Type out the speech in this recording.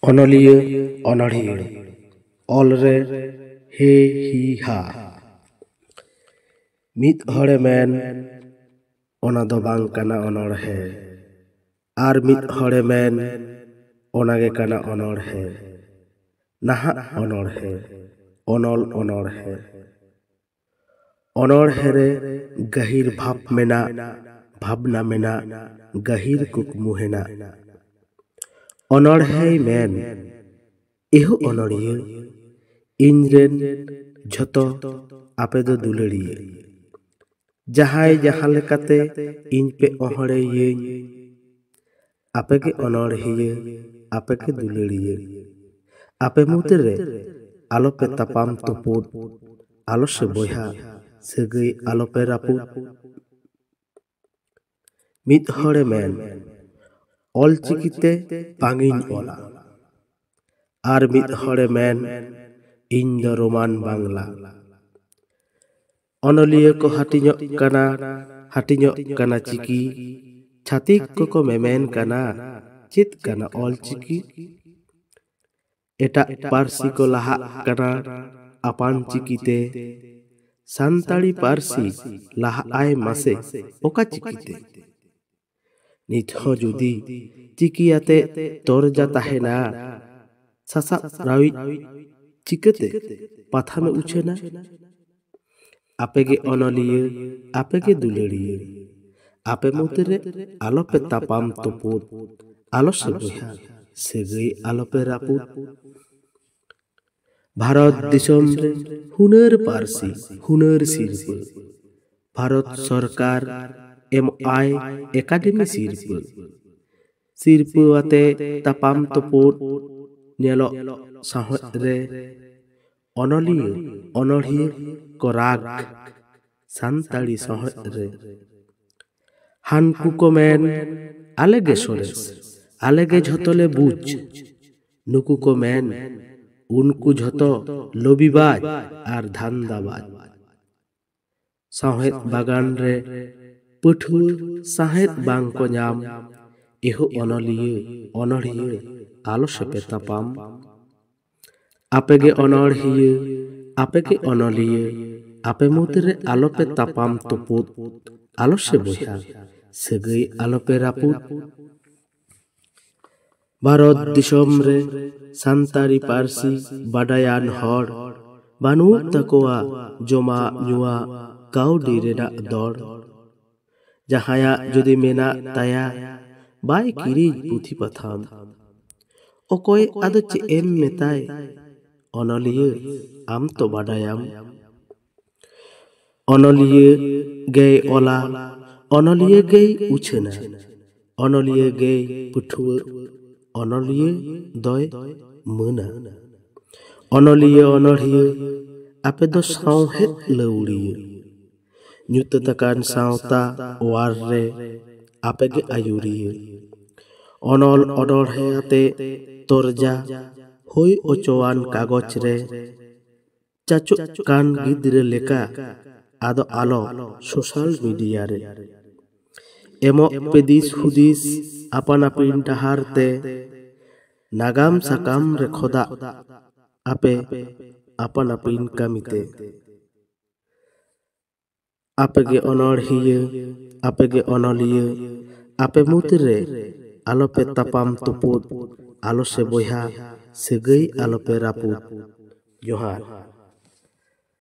ᱚᱱᱚᱞᱤᱭᱟᱹ ᱚᱱᱚᱲᱦᱤᱭᱟᱹ ᱚᱞ ᱨᱮ ᱦᱮ ᱦᱤ ᱦᱟ ᱢᱤᱫ ᱦᱚᱲᱮ ᱢᱮᱱ ᱚᱱᱟ ᱫᱚ ᱵᱟᱝ ᱠᱟᱱᱟ ᱚᱱᱚᱲᱦᱮ ᱟᱨ ᱢᱤᱫ ᱦᱚᱲᱮ ᱢᱮᱱ ᱚᱱᱟ ᱜᱮ ᱠᱟᱱᱟ ᱚᱱᱚᱲᱦᱮ ᱱᱟᱦᱟᱜ ᱚᱱᱚᱲᱦᱮ ᱚᱱᱚᱞ ᱚᱱᱚᱲᱦᱮ ᱚᱱᱚᱬᱦᱮᱸ ᱨᱮ ᱜᱟᱹᱦᱤᱨ ᱵᱷᱟᱵᱽ ᱢᱮᱱᱟᱜ ᱵᱷᱟᱵᱽᱱᱟ ᱢᱮᱱᱟᱜ ᱜᱟᱹᱦᱤᱨ ᱠᱩᱠᱢᱩ ᱦᱮᱱᱟᱜ ᱚᱱᱚᱬᱦᱮᱸᱭ ᱢᱮᱱ ᱮᱦᱳ ᱚᱱᱚᱬᱦᱤᱭᱟᱹ ᱤᱧ ᱨᱮᱱ ᱡᱷᱚᱛᱚ ᱟᱯᱮ ᱫᱚ ᱫᱩᱞᱟᱹᱲᱤᱭᱟᱹ ᱡᱟᱦᱟᱸᱭ ᱡᱟᱦᱟᱸ ᱞᱮᱠᱟᱛᱮ ᱤᱧ ᱯᱮ ᱚᱦᱚᱬᱮᱭᱟᱹᱧ ᱟᱯᱮ ᱜᱮ ᱚᱱᱚᱬᱦᱤᱭᱟᱹ ᱟᱯᱮ ᱜᱮ ᱫᱩᱞᱟᱹᱲᱤᱭᱟᱹ ᱟᱯᱮ ᱢᱩᱫᱽ ᱨᱮ ᱟᱞᱚ ᱯᱮ ᱛᱟᱯᱟᱢ ᱛᱩᱯᱩᱫ ᱟᱞᱚ ᱥᱮ ᱵᱚᱭᱦᱟ ᱥᱟᱹᱜᱟᱹᱭ ᱟᱞᱚ ᱯᱮ ᱨᱟᱹᱯᱩᱫ ᱢᱤᱫ ᱦᱚᱲᱮ ᱢᱮᱱ ᱚᱞ ᱪᱤᱠᱤ ᱛᱮ ᱵᱟᱝ ᱤᱧ ᱚᱞᱟ ᱟᱨ ᱢᱤᱫ ᱦᱚᱲᱮ ᱢᱮᱱ ᱤᱧ ᱫᱚ ᱨᱳᱢᱟᱱ ᱵᱟᱝᱞᱟ ᱚᱱᱚᱞᱤᱭᱟᱹ ᱠᱚ ᱦᱟᱹᱴᱤᱧᱚᱜ ᱠᱟᱱᱟ ᱦᱟᱹᱴᱤᱧᱚᱜ ᱠᱟᱱᱟ ᱪᱤᱠᱤ ᱪᱷᱟᱹᱛᱤᱠ ᱠᱚᱠᱚ ᱢᱮᱢᱮᱱ ᱠᱟᱱᱟ ᱪᱮᱫ ᱠᱟᱱᱟ ᱚᱞ ᱪᱤᱠᱤ ᱮᱴᱟᱜ ᱯᱟᱹᱨᱥᱤ ᱠᱚ ᱞᱟᱦᱟᱜ ᱠᱟᱱᱟ ᱟᱯᱟᱱ ᱪᱤᱠᱤ ᱛᱮ ᱥᱟᱱᱛᱟᱲᱤ ᱯᱟᱹᱨᱥᱤ ᱞᱟᱦᱟᱜ ᱟᱭ ᱢᱟᱥᱮ ᱚᱠᱟ ᱪᱤᱠᱤ ᱛᱮ ᱱᱤᱛ ᱦᱚᱸ ᱡᱩᱫᱤ ᱪᱤᱠᱤ ᱟᱛᱮ ᱛᱚᱨᱡᱟ ᱛᱟᱦᱮᱱᱟ ᱥᱟᱥᱟᱵ ᱨᱟᱣᱤᱡ ᱪᱤᱠᱟᱹᱛᱮ ᱯᱟᱛᱷᱟᱢᱮ ᱩᱪᱷᱟᱹᱱᱟ ᱟᱯᱮᱜᱮ ᱚᱱᱚᱞᱤᱭᱟᱹ ᱟᱯᱮᱜᱮ ᱫᱩᱞᱟᱹᱲᱤᱭᱟᱹ ᱟᱯᱮ ᱢᱩᱫᱽᱨᱮ ᱟᱞᱚᱯᱮ ᱛᱟᱯᱟᱢ ᱛᱩᱯᱩᱫ ᱟᱞᱚ ᱥᱮ ᱵᱚᱭᱦᱟ ᱥᱟᱹᱜᱟᱹᱭ ᱟᱞᱚᱯᱮ ᱨᱟᱹᱯᱩᱫ ᱵᱷᱟᱨᱚᱛ ᱫᱤᱥᱚᱢ ᱨᱮ ᱦᱩᱱᱟᱹᱨ ᱯᱟᱹᱨᱥᱤ ᱦᱩᱱᱟᱹᱨ ᱥᱤᱨᱯᱟᱹ ᱵᱷᱟᱨᱚᱛ ᱥᱚᱨᱠᱟᱨ ᱮᱢ ᱟᱭ ᱮᱠᱟᱰᱮᱢᱤ ᱥᱤᱨᱯᱟᱹ ᱥᱤᱨᱯᱟᱹ ᱟᱛᱮ ᱛᱟᱯᱟᱢ ᱛᱩᱯᱩᱫ ᱧᱮᱞᱚᱜ ᱥᱟᱶᱦᱮᱫ ᱨᱮ ᱚᱱᱚᱞᱤᱭᱟᱹ ᱚᱱᱚᱲᱦᱤᱭᱟᱹ ᱠᱚ ᱨᱟᱜᱽ ᱥᱟᱱᱛᱟᱲᱤ ᱥᱟᱶᱦᱮᱫ ᱨᱮ ᱦᱟᱱᱠᱩ ᱠᱚ ᱢᱮᱱ ᱟᱞᱮ ᱜᱮ ᱥᱚᱨᱮᱥ ᱟᱞᱮ ᱜᱮ ᱡᱷᱚᱛᱚ ᱞᱮ ᱵᱩᱡᱽ ᱱᱩᱠᱩ ᱠᱚ ᱢᱮᱱ ᱩᱱᱠᱩ ᱡᱷᱚᱛᱚ ᱞᱚᱵᱤᱵᱟᱡᱽ ᱟᱨ ᱫᱷᱟᱱᱫᱟᱵᱟᱡᱽ ᱥᱟᱶᱦᱮᱫ ᱵᱟᱜᱟᱱ ᱨᱮ ᱯᱟᱹᱴᱷᱩᱣᱟᱹ ᱥᱟᱶᱦᱮᱫ ᱵᱟᱝ ᱠᱚ ᱧᱟᱢ ᱮᱦᱚᱵ ᱚᱱᱚᱞᱤᱭᱟᱹ ᱚᱱᱚᱲᱦᱤᱭᱟᱹ ᱟᱞᱚ ᱥᱮᱯᱮ ᱛᱟᱯᱟᱢ ᱟᱯᱮ ᱜᱮ ᱚᱱᱚᱬᱦᱤᱭᱟᱹ ᱟᱯᱮ ᱜᱮ ᱚᱱᱚᱞᱤᱭᱟᱹ ᱟᱯᱮ ᱢᱩᱫᱽ ᱨᱮ ᱟᱞᱚ ᱯᱮ ᱛᱟᱯᱟᱢ ᱛᱩᱯᱩᱫ ᱟᱞᱚ ᱥᱮ ᱵᱚᱭᱦᱟ ᱥᱟᱹᱜᱟᱹᱭ ᱟᱞᱚ ᱯᱮ ᱨᱟᱹᱯᱩᱫ ᱵᱷᱟᱨᱚᱛ ᱫᱤᱥᱚᱢ ᱨᱮ ᱥᱟᱱᱛᱟᱲᱤ ᱯᱟᱹᱨᱥᱤ ᱵᱟᱰᱟᱭᱟᱱ ᱦᱚᱲ ᱵᱟᱹᱱᱩᱜ ᱛᱟᱠᱚᱣᱟ ᱡᱚᱢᱟᱜ ᱧᱩᱣᱟᱜ ᱠᱟᱹᱣᱰᱤ ᱨᱮᱱᱟᱜ ᱫᱚᱲ ᱡᱟᱦᱟᱸᱭᱟᱜ ᱡᱩᱫᱤ ᱢᱮᱱᱟᱜ ᱛᱟᱭᱟ ᱵᱟᱭ ᱠᱤᱨᱤᱧ ᱯᱩᱛᱷᱤ ᱯᱟᱛᱷᱟᱢ᱾ ᱚᱠᱚᱭ ᱟᱫᱚ ᱪᱮᱫ ᱮᱢ ᱢᱮᱛᱟᱭ ᱚᱱᱚᱞᱤᱭᱟᱹ ᱟᱢ ᱛᱚ ᱵᱟᱰᱟᱭᱟᱢ᱾ ᱚᱱᱚᱞᱤᱭᱟᱹ ᱜᱮᱭ ᱚᱞᱟ ᱚᱱᱚᱞᱤᱭᱟᱹ ᱜᱮᱭ ᱩᱪᱷᱟᱹᱱᱟ ᱚᱱᱚᱞᱤᱭᱟᱹ ᱜᱮᱭ ᱯᱟᱹᱴᱷᱩᱣᱟᱹᱜ ᱚᱱᱚᱞᱤᱭᱟᱹ ᱫᱚᱭ ᱢᱟᱹᱱᱟ᱾ ᱚᱱᱚᱞᱤᱭᱟᱹ ᱚᱱᱚᱬᱦᱤᱭᱟᱹ ᱟᱯᱮ ᱫᱚ ᱥᱟᱶᱦᱮᱫ ᱞᱟᱹᱣᱲᱤᱭᱟᱹ᱾ ᱧᱩᱛᱟᱹᱛ ᱟᱠᱟᱱ ᱥᱟᱶᱛᱟ ᱚᱣᱟᱨ ᱨᱮ ᱟᱯᱮ ᱜᱮ ᱟᱹᱭᱩᱨᱤᱭᱟᱹ ᱚᱱᱚᱞ ᱚᱱᱚᱬᱦᱮᱸ ᱟᱛᱮ ᱛᱚᱨᱡᱟ ᱦᱩᱭ ᱚᱪᱚᱣᱟᱱ ᱠᱟᱜᱚᱡᱽ ᱨᱮ ᱪᱟᱪᱚᱜ ᱠᱟᱱ ᱜᱤᱫᱽᱨᱟᱹ ᱞᱮᱠᱟ ᱟᱫᱚ ᱟᱞᱚ ᱥᱳᱥᱟᱞ ᱢᱤᱰᱤᱭᱟ ᱨᱮ ᱮᱢᱚᱜ ᱯᱮ ᱫᱤᱥ ᱦᱩᱫᱤᱥ ᱟᱯᱟᱱ ᱟᱹᱯᱤᱱ ᱰᱟᱦᱟᱨ ᱛᱮ ᱱᱟᱜᱟᱢ ᱥᱟᱠᱟᱢ ᱨᱮ ᱠᱷᱚᱫᱟᱜ ᱟᱯᱮ ᱟᱯᱟᱱ ᱟᱹᱯᱤᱱ ᱠᱟᱹᱢᱤᱛᱮ ᱟᱯᱮᱜᱮ ᱚᱱᱚᱬᱦᱤᱭᱟᱹ ᱟᱯᱮᱜᱮ ᱚᱱᱚᱞᱤᱭᱟᱹ ᱟᱯᱮ ᱢᱩᱫᱽᱨᱮ ᱟᱞᱚᱯᱮ ᱛᱟᱯᱟᱢ ᱛᱩᱯᱩᱫ ᱟᱞᱚ ᱥᱮ ᱵᱚᱭᱦᱟ ᱥᱟᱹᱜᱟᱹᱭ ᱟᱞᱚᱯᱮ ᱨᱟᱹᱯᱩᱫ ᱡᱚᱦᱟᱨ